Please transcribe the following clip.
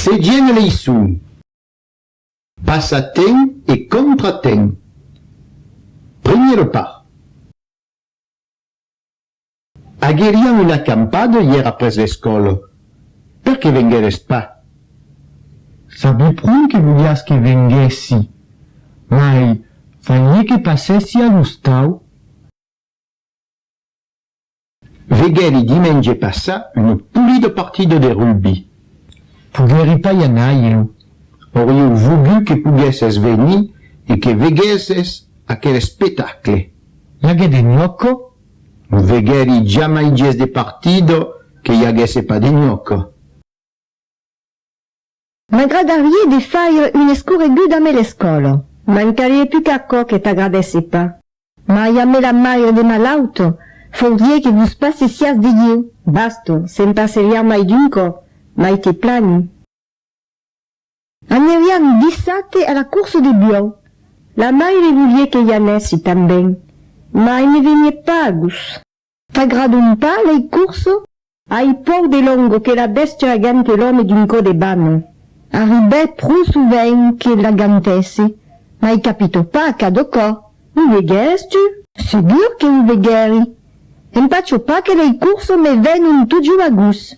Segien a leiçon. Passatemp e contratemp. Primièr par. Agueriam una acampada ièr après l'escòla. Per que vengueres pas? Sabi pron que voliás que venguèssi, mai falie que passèssi a l'ostau. Veguèri dimenge passat un polido partido de rugbi. Poguèri pas i anar ieu. Aurieu vogut que poguèsses venir e que veguèsses aquel espectacle. I aguèt de nhoco? No veguèri jamai ges de partido que i aguèsse pas de nhoco. M'agradarié de faire une escorreguda me l'escòla. Mancarie plus qu'aquò que t'agradèsse pas. Mai a me la maire de malaut, faurie que vos passessiás de ieu. Basta, se'n passerián mai d'un còp, mai te plani. Anerián dissate a la course de buòu. La maire volié que i anèssi tanben, mai ne venié pas a gust. T'agradon pas lei curso? Ai pòu de longo que la bèstia agante l'òme d'un cò de bana. Arribè pro sovent que l'agantèsse, mai capito pas cadò cò. O veguères tu? Segur que o veguèri. Empacho pas que lei curso me vèn un totjor a gust.